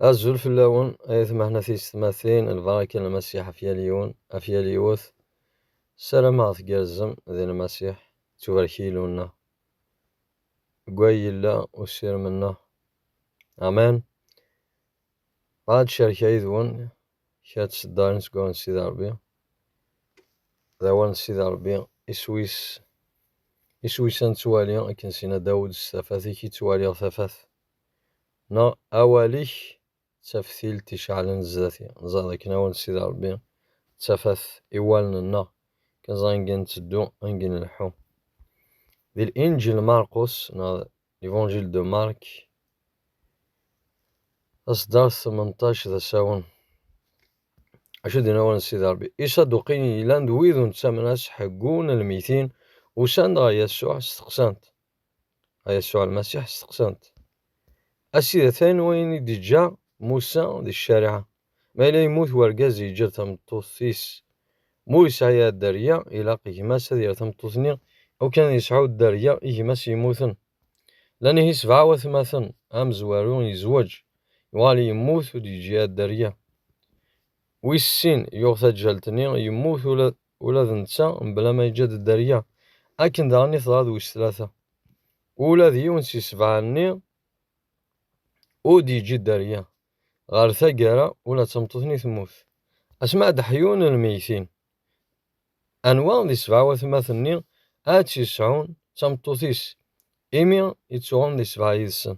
Azul fell-awen ay atmaten a tiysetmatin, lbaraka n Lmasiḥ ɣef yal yiwen, ɣef yal yiwet. Ssarameɣ tgerrzem di Lmasiḥ, ttubarek Yillu-nneɣ deg way yella usirem-nneɣ. Amen. Bɣiɣ ad cerkeɣ yid-wen kra n tseddarin seg wawal n Sidi Ṛebbi. D awal n Sidi Ṛebbi, iswi-s, iswi-s ad nettwali, akken s-yenna Dawed, s tafat-ik i ttwaliɣ tafat, neɣ awal-ik d taftilt iceɛlen zdat-i. Neẓra d akken awal n Sidi Ṛebbi d tafat i wallen-nneɣ, akken neẓra anga i nteddu, anga i nleḥḥu. Di Linǧil n Marqus, neɣ L'évangile de Marc, asdar 18 d asawen. Acu d inawen Sidi Rebbi? Isaduqiyen yellan d wid ur nettamen as ḥeggun lmitin usan-d ɣer Yasuɛ steqsan-t. Ɣer Yasuɛ Lmasiḥ steqsan-t. A Sidi atan wayen i d-iǧǧa Musa di ccariɛa. Ma yella yemmut wergaz yeǧǧa-d tameṭṭut-is, ma ur yesɛi ara dderya, ilaq i gma-s ad yerr tameṭṭut-nni aw kan ad yesɛu dderya i gma-s yemmuten. Llan ihi sebɛa watmaten, amezwaru yezweǧ, yuɣal yemmut ur d-yeǧǧi ara dderya. Wis sin, yuɣ taǧǧalt-nni, yemmut ula, ula d netta mebla ma yeǧǧa-d dderya. Akken daɣen i teḍra d wis tlata. Ula d yiwen si sebɛa-nni ur d-yeǧǧi dderya. Ɣer taggara, ula d tameṭṭut-nni temmut. Asmaɛd Aḥyu n lmeyytin. Anwa di sebɛa watmaten-nni ara tt-yesɛun d tameṭṭut-is, imi yettuɣen di sebɛa yid-sen?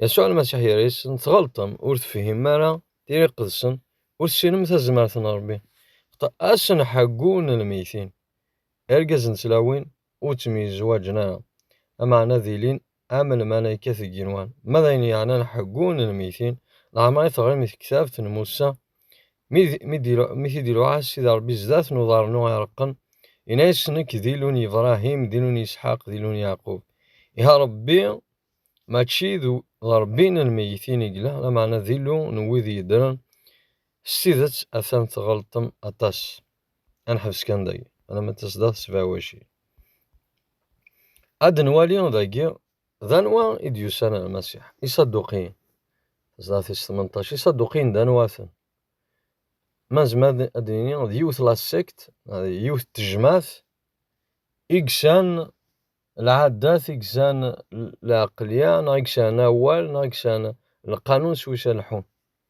Yasuɛ Lmasiḥ yerra-yasen, Tɣelṭem, ur tefhimem ara tira iqedsen, ur tessinem tazmert n Ṛebbi. Xṭa-asen Ḥaggu n lmeyytin. Irgazen d tlawin ur ttemyezwaǧen ara, lameɛna ad ilin am lmalayka deg yigenwan, ma d ayen yeɛnan ḥeggu n lmeytin, leɛmer i teɣrim i tektabt n Musa, mi t-id-iluɛa Sidi Ṛebbi zdat n uḍarnu ireqqen, yenna-yas, Nekk d Illu n Yebṛahim, d Illu n Yisḥaq, d Illu n Yeɛqub. Iha Ṛebbi mačči d Ṛebbi n lmeytin i yella, lameɛna d Illu n wid yeddren. S tidet, atan tɣelṭem aṭas. ad neḥbes kan dagi alamma d tasdaɣ tesbeɛwaci ad nwali dagi d anwa i d-yusan ar Masiḥ Isaduqiyen tasdaɣ tis tmenṭac Isaduqiyen d anwa-ten ma nezmer ad d-nini d yiwet la sect d yiwet tejmaɛt i gsan lɛadat i gsan lɛeqlya neɣ i gsan awal neɣ i gsan lqanun s wis ad lḥun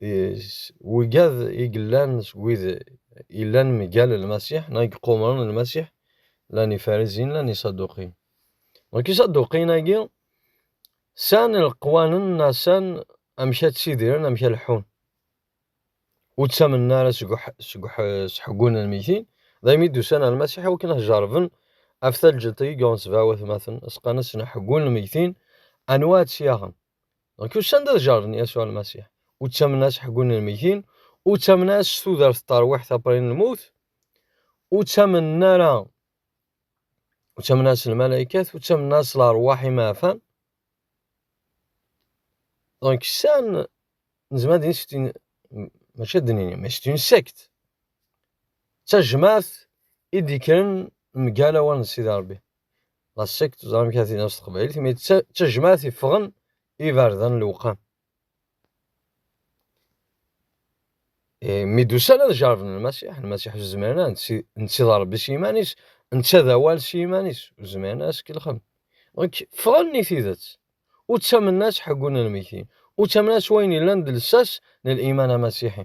s wigad i yellan seg wid yellan mgal Lmasiḥ neɣ i yequmren Lmasiḥ, llan Ifarizin, llan Isaduqiyen. Donc Isaduqiyen-agi san leqwanen neɣ san amek ad tsidiren, amek ad leḥḥun. Ur ttamnen ara seg seḥgun n lmegtin, daymi d-usan ar Lmasiḥ i wakken ad jerben af talǧelt-agi yuɣen sebɛa watmaten, asqan-asen aḥeggun n lmegtin, anwa ad tt-yaɣen. Donc usan-d ad jarren Yasuɛ Almasiḥ. Ur ttamen as ḥeggun n lmeggtin, ur ttamen as s tudert n terwiḥt apri n lmut, ur ttamen ara ur ttamen as lmalaykat, ur ttamen as lerwaḥ imeɛfan. Donc san nezmer ad nini maca ad nini, mais c'est une secte. D tajmaɛt i d-ikkren mgal awal n Sidi Ṛebbi. la sect teẓra amek ara tini s teqbaylit imi d tajmaɛt iffɣen iberdan lewqam eh, mi d-usan ad jarben lmasiḥ lmasiḥ ur zmiren ara netta d rebbi s yiman-is netta d awal s yiman-is ur zmiren ara skelxen donc ffɣen i tidet ur ttamen-as ḥeggun lmekin ur ttamen-as wayen yellan d lsas n liman amasiḥi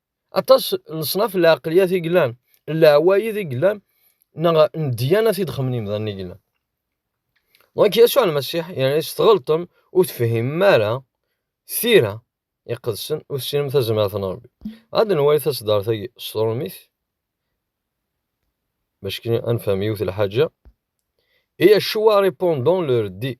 aṭas n leṣnaf n lɛeqliyat i yellan, n leɛwayed i yellan, neɣ n ddyanat i d-xemmen yimdanen i yellan. Dɣa Yasuɛ Lmasiḥ yerna-as tɣelṭem ur tefhimem ara tira iqedsen ur tessinem tazmert n Rebbi. Ad nwali taseddaṛt-agi s tṛumit bac kan ad nefhem yiwet lḥaǧa. Et Yeshua répondant leur dit,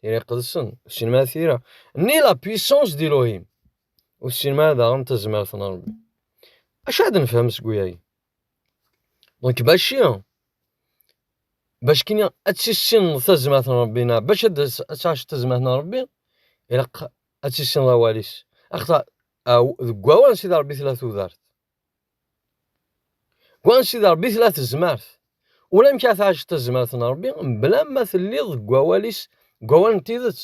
tira iqedsen ur tessinem ara tira ni la puissance d'Elohim ur tessinem ara daɣen tazmert n Rebbi acu ad nefhem seg uyagi donc baci bac kini ad tissineḍ tazmert n Rebbi neɣ bac ad tɛiceḍ tazmert n Rebbi ilaq ad tissineḍ awal-is axaṭer deg wawal n Sidi Rebbi tella tudert Wansi d Ṛebbi tella tezmert. Ulamek ara tɛaceḍ tazmert n Ṛebbi mebla ma telliḍ deg wawal-is, deg wawal n tidet.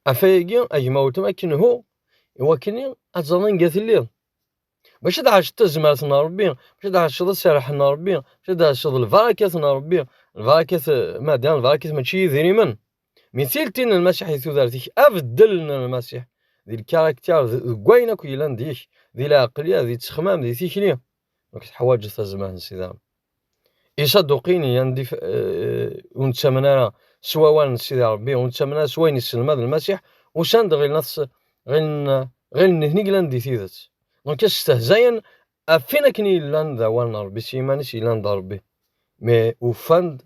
Afayagi, a gma weltma, akken hu, iwakken ad teẓreḍ anga telliḍ. Maca ad ɛaceḍ tazmert n Ṛebbi, maca ad ɛaceḍ aserreḥ n Ṛebbi, maca ad ɛaceḍ lbarakat n Ṛebbi, lbarakat, ma d lbarakat mačči idrimen. Mi tilti n Lmasiḥ di tudert-ik, abeddel n Lmasiḥ di lkaraktir, deg wayen akk yellan deg-k, di lɛeqlya, di ttexmam, di tikli, nek teḥwaǧeḍ tazmah n Sidi Rebbi. Isaduqin yan di eh, ur nettamen ara s wawal n Sidi Rebbi, ur nettamen ara s wayen yesselmad Lmasiḥ, usan-d ɣilen ɣilen ɣilen nitni glan di tidet. Donc stehzayen afin akken yellan d awal n Rebbi, s yiman-is yellan d Rebbi. Mais ufan-d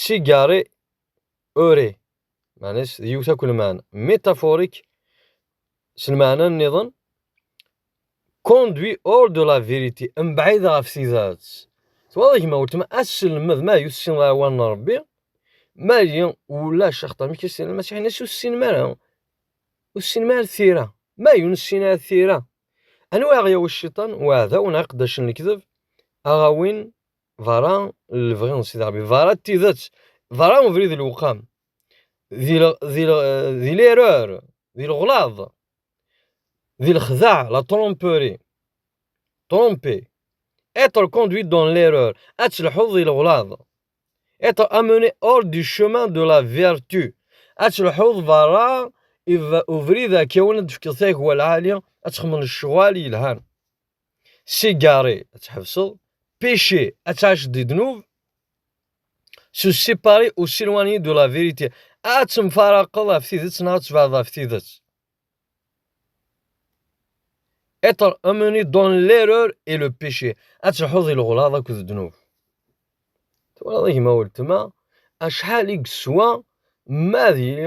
Sigari uri, meɛna-s d yiwet akk lmeɛna. Métaphorique, s lmeɛna nniḍen, conduit hors de la vérité, mebɛid ɣef tidet. Twalaḍ a gma weltma, aselmed, ma ur tessineḍ ara awal n Rebbi, ma yi ulac axaṭer mi k-as-tini Lmasiḥ, ini-as ur tessinem ara, ur tessinem ara tira. Ma ur nessin ara tira, anwa i aɣ-yawi cciṭan, uɛdaw neɣ iqeddacen n lekdeb, a ɣ-awin? Berra n lebɣi n Sidi Ṛebbi, berra n tidet, berra n ubrid n lewqam, di l'erreur, di leɣlaḍ, di lexdeɛ, la tromperie, tromper, être conduit dans l'erreur, ad telḥuḍ di leɣlaḍ, être amené hors du chemin de la vertu, ad telḥuḍ berra ubrid akawen ad d-tefkeḍ tagwa lɛali, ad txedmeḍ lecɣal yelhan. S'égarer, ad tḥebseḍ. Péché, ad tɛaceḍ di ddnub. Se séparer ou s'éloigner de la vérité, ad temfaraqeḍ ɣef tidet neɣ ad tebɛdeḍ ɣef tidet. Être emmené dans l'erreur et le péché, ad telḥuḍ di leɣlaḍ akked ddnub. Twalaḍ a gma weltma, acḥal i yeswa ma ad yili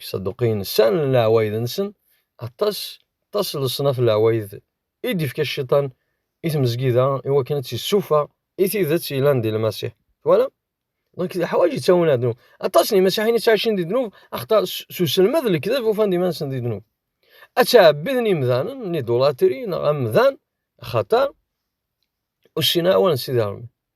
Iṣaduqiyen ssanen leɛwayed-nsen, aṭas, aṭas n leṣnaf n leɛwayed i d-ifka Cciṭan i tmezgida i wakken ad tt-issufeɣ i tidet yellan di Lmasiḥ. Twalam? Donc leḥwaǧ yettawin ar ddnub. Aṭas n yimasiḥiyen yettɛicin di ddnub axaṭer s uselmed n lekdeb ufan-d iman-nsen di ddnub. Ad ttɛebbiden imdanen n idulatri neɣ amdan axaṭer ur ssinen ara awal n Sidi Ṛebbi.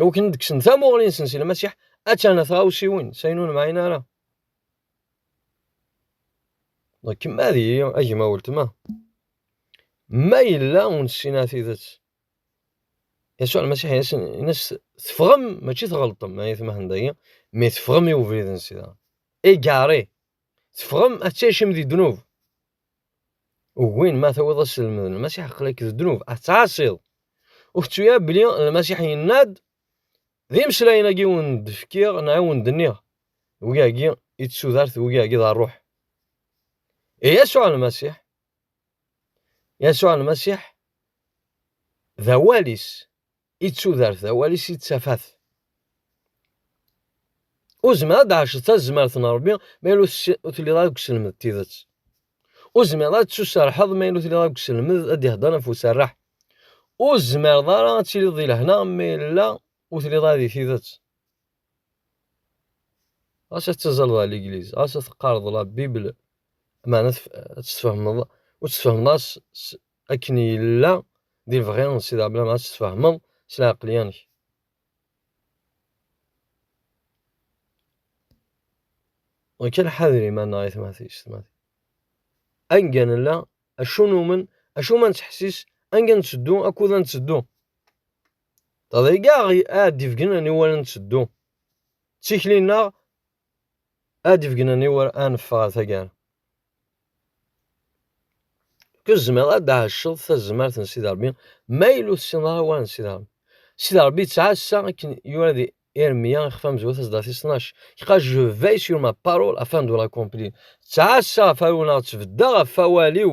Iwakken ad kksen tamuɣli-nsen si Lmasiḥ, attan tɣawsiwin, sayen ur nemɛin ara. Kem ad iyi, a gma weltma. Ma yella ur nessin ara tidet. Yasuɛ Lmasiḥ in-as teffɣem, mačči tɣelṭem, ay tmahn dagi, mi teffɣem i ubrid n sida. Égaré. Teffɣem ad teččim di ddnub. Ugin ma tawiḍ aselmed n Lmasiḥ aql-ak d ddnub, ad tettɛaṣiḍ. Ur kettu ara belli Lmasiḥ yenna-d d imeslayen-agi i wen-d-fkiɣ neɣ i wen-d-nniɣ, wigi-agi i d tudert, wigi-agi d rruḥ. I Yasuɛ Lmasiḥ, Yasuɛ Lmasiḥ d awal-is, i tudert d awal-is i ttafat. Ur zmireɣ ad d-ɛacet tazmert n Rebbi ma yella ur telliḍ ara deg uselmed n tidet. Ur zmireɣ ad d-tuserḥeḍ ma yella ur telliḍ ara deg uselmed ad d-ihedder ɣef userreḥ. Ur zmireḍ ara ad tiliḍ di lehna ma yella ur telliḍ ara di tidet. Ɣas ad teẓẓleḍ ɣer ligliz, ɣas ad teqqareḍ la Bible, meɛna ad tt-tfehmeḍ, ur tt-tfehmeḍ ara akken yella d ibɣi n Sidi Ɛebd Lɛemmer ad tt-tfehmeḍ s lɛeqleyya-nnek. Ɣikan ḥader iman-nneɣ ay tmatis, tmatis. Anga nella, acu numen, acu ma nettḥessis, anga netteddu, akud ad netteddu. Taḍayga ad d-ifgen aniwel ad netteddu. D tikli-nneɣ Ad d-begnen i wur ad neffeɣ ar taggara. Tezmireḍ ad d-tɛacceḍ tazmert n Sidi Ṛebbi ma yella ur tessineḍ ara awal n Sidi Ṛebbi. Sidi Ṛebbi yettɛassa akken yura di Irmiya ixef amezwaru taseddart tis tnac, Car je veille sur ma parole afin de l'accomplir. Ttɛassaɣ ɣef aruneɣ, ttbeddaɣ ɣef wawal-iw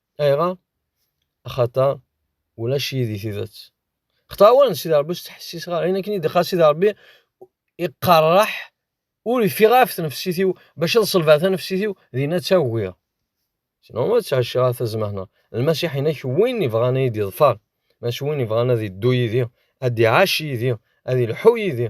Ayɣer? Axaṭer ulac yid-i tidet. Xaṭer awalen n Sidi Ṛebbi ur tt-ttḥessiseɣ ara, ayen akken i d-iqqar Sidi Ṛebbi iqerreḥ, ur ifiɣ ara ɣef tnefsit-iw, bac ad ṣelbeɣ tanefsit-iw, dinna ad tt-agiɣ. Sinon ma ttɛecciɣ ara tazmehna. Lmasiḥ inek win ibɣan ad yi-d-iḍfer, maca win ibɣan ad iddu yid-i, ad iɛac yid-i, ad ilḥu yid-i.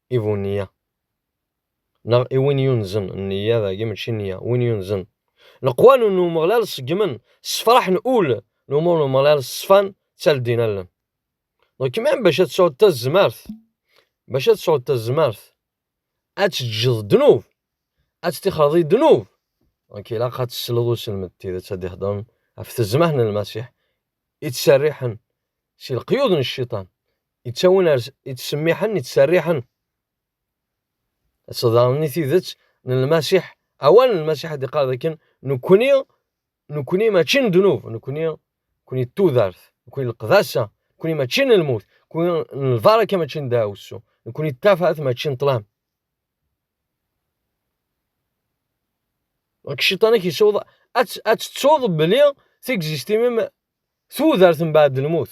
i bu nniya, neɣ i win yunzen, nniya dagi mačči nniya, win yunzen. Leqwan n Umeɣlal ṣeggmen, ssefraḥen ul, n umur n Umeɣlal ṣṣfan, ttaldin allen. Donc même bac ad tesɛuḍ tazmert, bac ad tesɛuḍ tazmert, ad teǧǧeḍ ddnub, ad tettixreḍ i ddnub, donc ilaq ad tesleḍ uselmed tidet ad d-iheddren ɣef tezmert n Lmasiḥ, i ttserriḥen si leqyud n cciṭan. yettawin ar yettsemmiḥen, yettserriḥen. Ad tḍerni tidet n Lmasiḥ, awal n Lmasiḥ ad iqqar dakken nekkni, nekkni mačči n ddnub, nekkni, nekkni d tudert, nekkni n leqdasa, nekkni mačči n lmut, nekkni n lbaraka mačči n dawessu, nekkni d tafat mačči n ṭlam. Deg cciṭan-ik yessawḍ ad tettuḍ belli tigzistin-im tudert mbeɛd lmut.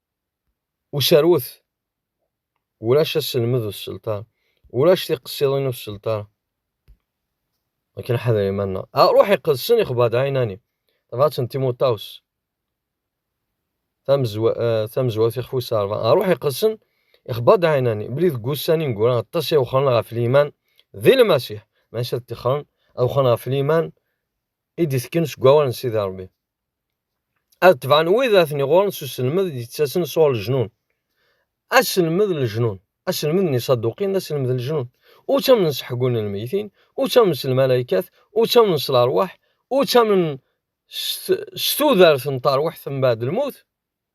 userwet ulac aselmed ur sselṭar ulac tiqessiḍin ur sselṭar akken ḥader iman-nneɣ aruḥ iqedsen ixbad ɛinani tabɣat n timuṭaws eh, tamezwawt ixef wis ṛebɛa aruḥ iqedsen ixbad ɛinani bli deg wussan ineggura aṭas i wexren ɣef liman di lmasiḥ maca ad tixren ad wexren ɣef liman i d-itken seg wawal n sidi ṛebbi ad tebɛen wid aten iɣuren s uselmed i d-yettasen sɣur leǧnun aselmed n leǧnun aselmed n isaduqin d aselmed n leǧnun ur ttamnen s ḥeggun n lmeytin ur ttamnen s lmalaykat ur ttamnen s lerwaḥ ur ttamnen s tudert n terwiḥt mbaɛd lmut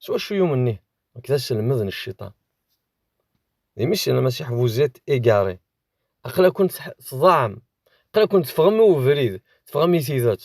s wacu yumen nih nekk d aselmed n cciṭan d imi sel lmasiḥ vous êtes égaré aql-akent tḍaɛem aql-akent teffɣem i ubrid teffɣem i tidet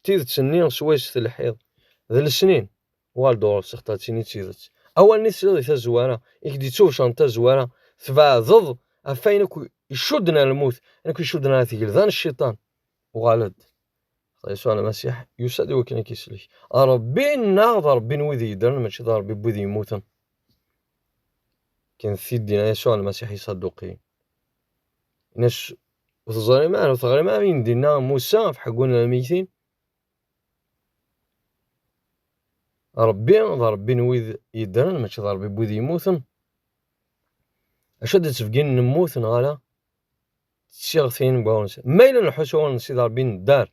D tidet-nni swayes telḥiḍ. D lesnin, Waldorf, sextatin i d tidet. Awal-nni tesliḍ di tazwara, i k-d-ittubecren tazwara, tbeɛdeḍ ɣef wayen akk icudden ar lmut, ayen akk icudden ar tgelda n cciṭan. Uɣal-d. Xḍa Yasuɛ Lmasiḥ yusa-d i wakken ad k-isellek. Ṛebbi-nneɣ d Ṛebbi n wid yeddren, mačči d Ṛebbi n wid yemmuten. Kkant tiddin a Yasuɛ Lmasiḥ i Iṣaduqiyen. Ini-as Ur teẓrim ara, ur teɣrim ara ayen d-inna Musa ɣef ḥeggun n lmeyytin? Ṛebbi d Ṛebbi n wid yeddren, mačči d Ṛebbi n wid yemmuten. Acu ad d-tefgin nemmut neɣ ala? Tsiɣtin n wawen. Ma yella nḥus wawen n Sidi Ṛebbi neddar,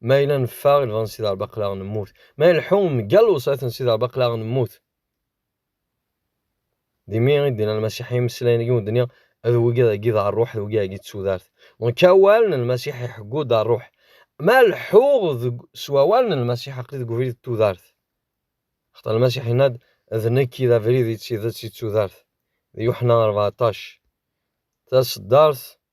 ma yella neffeɣ i lbaḍ n Sidi Ṛebbi aql-aɣ nemmut, ma yella nleḥḥu mgal lewṣayat n Sidi Ṛebbi aql-aɣ nemmut. Di mi i d-inna Lmasiḥ imeslayen i wen-d-nniɣ, ad wigi ad agi d rruḥ, d wigi ad agi d tudart. Nekk awal n Lmasiḥ iḥeggu-d rruḥ. Ma leḥḥuɣ s wawal n Lmasiḥ aqli deg ubrid d tudart. Xaṭer Lmasiḥ inna-d, d nekk i d abrid i d tidet i d tudart. D Yuḥna rbeɛṭac. Taseddart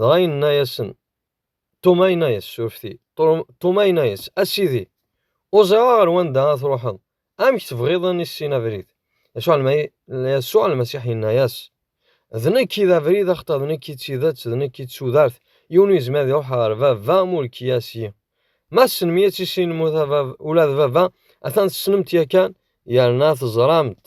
Dɣa yenna-yasen, Tuma yenna-yas, surfti, Tuma yenna-yas, a Sidi, ur ẓriɣ ɣer wanda ad truḥeḍ, amek tebɣiḍ ad nissin abrid? Yasuɛ Lmasiḥ yenna-yas, D nekk i d abrid, axaṭer d nekk i d tidet, d nekk i d tudert, yiwen ur yezmir ad iruḥ ɣer Baba ma ur k-yas yi. Ma tessnem-iyi ad tissinem ula d Baba, atan tessnem-t yakan, yerna teẓram-t.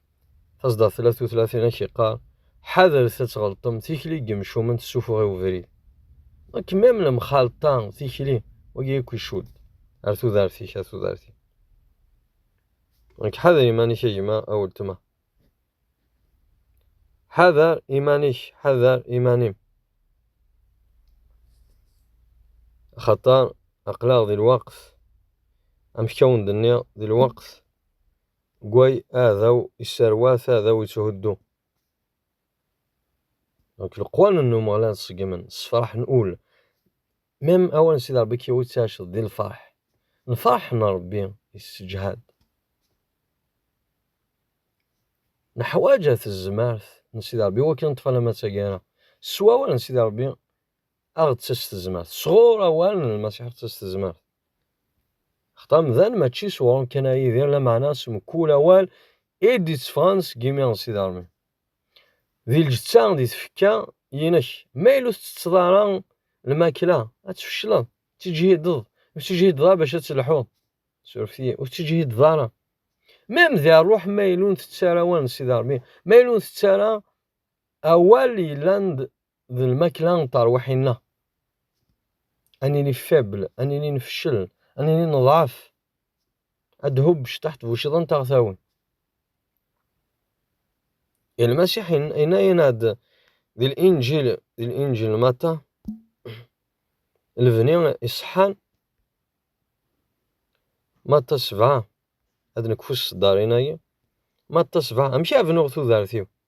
tasdaɣt tella tutla tin ak iqqar ḥadret ad tɣelṭem tikli n yemcumen tessufeɣ i ubrid nek mem lemxalṭa tikli wagi akk icud ar tudert-ik ar tudert-ik nek ḥader iman-ik a gma a weltma ḥader iman-ik ḥader iman-im axaṭer aqlaɣ di lweqt amek awen-d-nniɣ di lweqt Gway aɛdaw isserwat, aɛdaw itthuddu. Donc leqwanen n Umeɣlal ṣeggmen, ssefraḥen ul. Même awal n Sidi Ṛebbi kkiw i ttɛiceḍ di lfeṛḥ. Lfeṛḥ n Ṛebbi isseǧhad. Neḥwaǧa tezmert n Sidi Ṛebbi iwakken ad neṭṭef alamma d taggara. S wawal n Sidi Ṛebbi Aɣ-d-ţas tezmert. Sɣur awal n Lmasiḥ aɣ-d-ţas tezmert. Xeṭ amdan mačči s uɣrum kan ara yidir, lameɛna s mkul awal i d-iţeffɣen seg imi n Sidarmi. Di lǧeţţa, di tfekka, yinek. Ma yella ur teţţeţţeḍ ara lmakla, ad tfecleḍ. Ţeǧhideḍ. Ur teţeǧhideḍ ara bac ad telḥuḍ. Surfet-iyi. Ur teţeǧhideḍ ara. Mem di ṛṛuḥ ma yella ur nteţţ ara awal n Sidarmi, ma yella ur nteţţ ara awal yellan d d lmakla n terwiḥin-nneɣ. Ad nili faible, ad nili nfeccel, ad nili neḍɛef. Ad d-hubbec taḥt buciḍa n taɣtawin. I Lmasiḥ yenna-yenna-d di Linǧil, di Linǧil n Mata, lebni iṣeḥḥan, Mata sebɛa, ad nekfu s tseddarin-agi, Mata sebɛa, amek ara bnuɣ tudert-iw?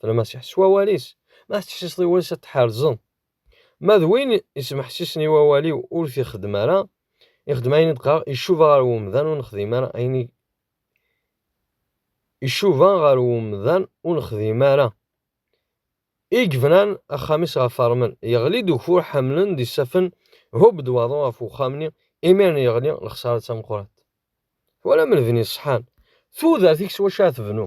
d Lmasiḥ s wawal-is, ma tettḥessiseḍ i wawal-is ad tḥerzeḍ. Ma d win yesmeḥsisen i wawal-iw ur t-ixeddem ara, ixeddem ayen i d-qqareɣ, icuba ɣer wemdan ur nexdim ara ayen i icuba ɣer wemdan ur nexdim ara. I yebnan axxam-is ɣef ṛmel, yeɣli-d ugfur ḥemlen d isafen, hub-d waḍu ɣef uxxam-nni, imiren yeɣli, lexsara d tameqqrant. Twalam lebni ṣṣḥan, tudert-ik s wacu ara tebnu?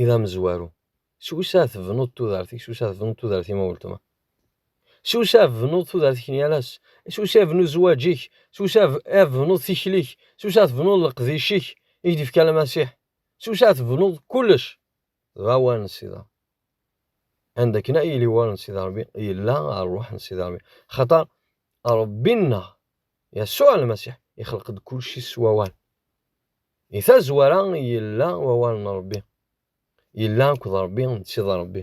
i d amezwaru. S usa tebnuḍ tudert-ik, s usa tebnuḍ tudert-im a weltma. S usa tebnuḍ tudert-ik n yal ass, s usa tebnuḍ zzwaǧ-ik, s usa tebnuḍ tikli-k, s usa tebnuḍ leqdic-ik i k-d-ifka Lmasiḥ, s usa tebnuḍ kullec. Dɣa war n Sida. Anda akken ay yili war n Sida Rebbi, yella ṛṛuḥ n Sida Rebbi. Xaṭer Rebbi-nneɣ, Yasuɛ Lmasiḥ, ixleq-d kullci s wawal. Di tazwara, yella wawal n Ṛebbi. Yella akked Ṛebbi, netta d Ṛebbi.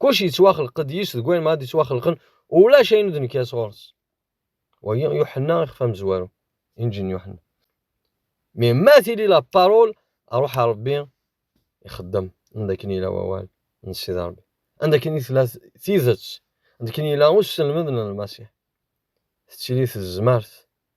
Kullec yettwaxleq-d yis deg wayen ma ad yettwaxelqen, ulac ayen ur d-nekka sɣur-s. Wagi, Yuḥenna ixef amezwaru, Inǧil n Yuḥenna. Mi ma tili la parole, aruḥ a Ṛebbi ixeddem, anda akken yella wawal n Ssid Ṛebbi. Anda akken i tella tidet, anda akken yella usselmed n Lmasiḥ. Tettili tezmert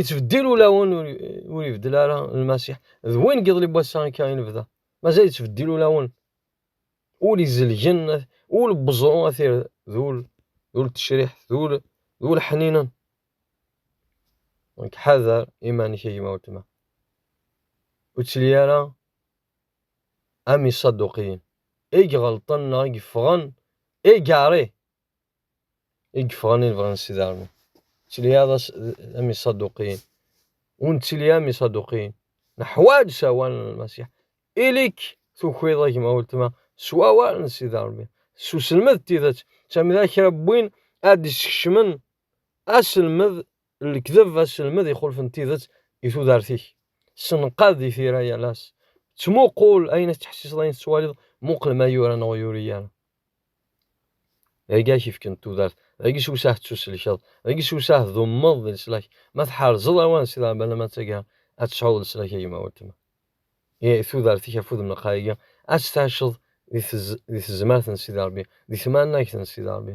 Ittbeddil ulawen ur ibeddel ara Lmasiḥ. D win n yiḍelli n wass-a akka i nebda. Mazal ittbeddil ulawen. Ul izelgen, ul n weẓru ad t-irr d ul d ul n tecriḥt, d ul d ul ḥninen. Donc ḥader iman-ik a gma weltma. Ur ttili ara am iṣaduqiyen i iɣelṭen neɣ i yeffɣen égaré i yeffɣen i lebɣi n Sidi Ɛmi. Ttiliɣ am Iṣaduqiyen. Ur nettili am Iṣaduqiyen. Neḥwaj sawal n Lmasiḥ. Ili-k tukiḍ a gma weltma s wawal n Sidi Ṛebbi, s uselmed n tidet, ttamen d kra n win ad d-iskecmen Aselmed n lekdeb, aselmed ixulfen tidet i tudert-ik. Senqad di tira yal ass. Ttmuqul ayen ad tettḥessiseḍ, ayen tettwaliḍ, muqel ma yura neɣ ur yuri ara. Dagi ak-ifken tudert, dagi s usah tettuselkeḍ, dagi s usah dummeḍ di leslak. Ma tḥerzeḍ awan si dɛebba lama d taggara, ad tesɛuḍ leslak a gma weltma. I tudert-ik afud n lqayagi, ad tt-taceḍ di tezmert n Sidi Rebbi, di tmanagt n Sidi Rebbi.